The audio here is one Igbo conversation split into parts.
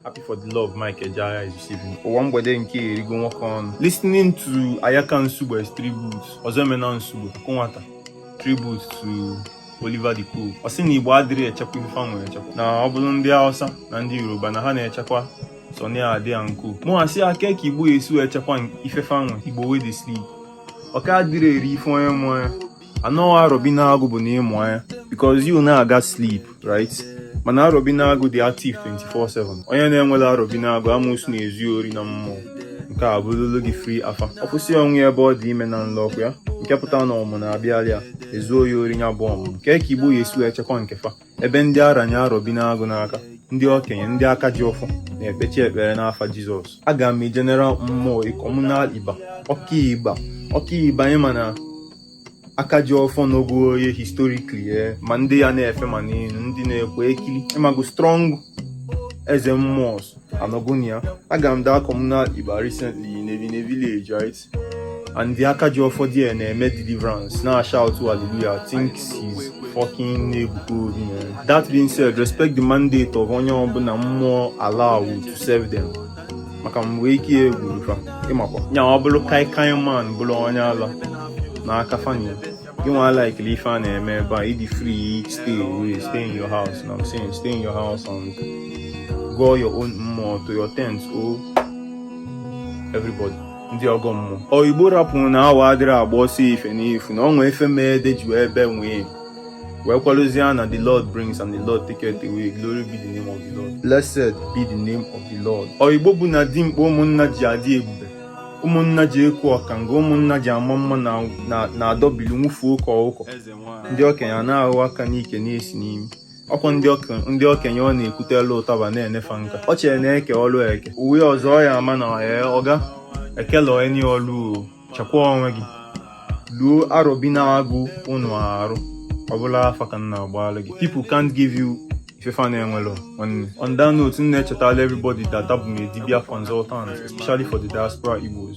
Happy for the love Mike Ejeagha is receiving. Ụwa mgbede nke erigo nwoke ọnụ. Listening to Ayaka Nsugbe's tribute, Ozoemena Nsugbe, Akụnwata, tribute to Oliver De Coque. Ọ sị na Igbo adịrị echekwa ife fa nwere echekwa. Na ọ bụrụ ndị Hausa na ndị Yoruba na ha na-echekwa Sunny Ade and Co. Mụ asị a kee ka Igbo ya esi wee chekwa ife fa nwe Igbo wey dey sleep. Ọka adịrị eri ife onye mụ anya. I know Arọ bi n'agụ bụ na ịmụ anya because you na-aga sleep, right? mana Arọ bi n'agụ dị active 24/7 onye na-enwela Arọ bi n'agụ amụsụ na-ezu ori na mmụọ nke a bụlụlụ gị free afa ọ kwụsị onwe ya ebe ọ dị ime na nlọ ọkwa nke pụta na ọmụ na-abịalị ya e zuo ya ori ya bụ ọmụ kee ka Igbo ya esi wee chekwa nke fa ebe ndị a ranye arọ bi n'agụ n'aka ndị okenye ndị aka ji ọfọ na-ekpechi ekpere n'afa jizọs aga m general mmụọ communal iba ọkaigba ọkaigba ị ma na aka ji ọfọ n'ogo oye historically eh, ma ndị ya na-efe ma n'elu ndị na-ekwe ekili ịmago strong eze mmụọ anọgonia aga m that communal iba recently in a village right and the aka ji ọfọ there na-eme deliverance na-shout hallelujah thinks he's fucking Ebuka Obi man that being said respect the mandate of onye ọbụla mmụọ allow to serve them maka mgbe ike ya egwuru fa ịmakwa nya ọ bụrụ kai kai man bụrụ onye ala n'aka fani gịnwa likele ife a na-eme ebe a ị dị free stay away stay in your house know what I'm saying stay in your house and gọọ your own mmụọ to your tent o oh. everybody ndị ọgọ mmụọ o Igbo rapụrụ na awọ adịrị agba ọsọ ife n'ifu na o nwe ife mee dị jụọ ebe nwee wee kwalụzie na the lord brings and the lord taketh away glory be the name of the lord blessed be the name of the lord o Igbo bụ na dimkpa ụmụnna ji adị ebube ụmụnna ji ekwu ọkanga ụmụnna ji ama mma na-adọbili nwụfuo ụka ụkọ ndị okenye na-ahụ aka n'ike na-esi n'imi ọkwa ndị okenye ọ na-ekwutelụ ụtaba na-enefa nka ọ chere na eke ọlụ eke uwe ọzọ ya ama na ee ọ ga-ekele onye ọlụ chekwa onwe gị luo arọ bi n'agụ ụnụ arụ ọbụla afa ka m na-agbalụ gị people can't give you ife fa na-enwelọ nwanne on that note m na-echetala everybody that abụ m a dibia consultant especially for the diaspora Igbos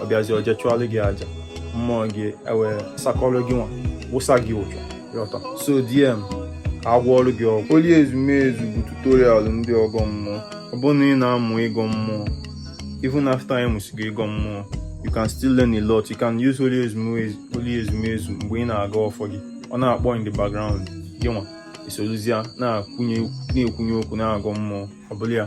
ọ bịazi o je chụọlụ gị aja mmụọ gị ewee sakọrọ gị nwa wụsa gị ụjọ yọta so DM ka a gwọọrụ gị ọgwụ oli ezumezu bụ tutorial ndị ọgọ mmụọ ọ bụrụ na ị na-amụ ịgọ mmụọ even after ị mụsịgo ịgọ mmụọ you can still learn a lot you can use oli ezumezu mgbe ị na-agọ ọfọ gị ọ na-akpọ in the background gị nwa esoluzia na-akwụnye na-ekwunye okwu na-agọ mmụọ ọ bụla ya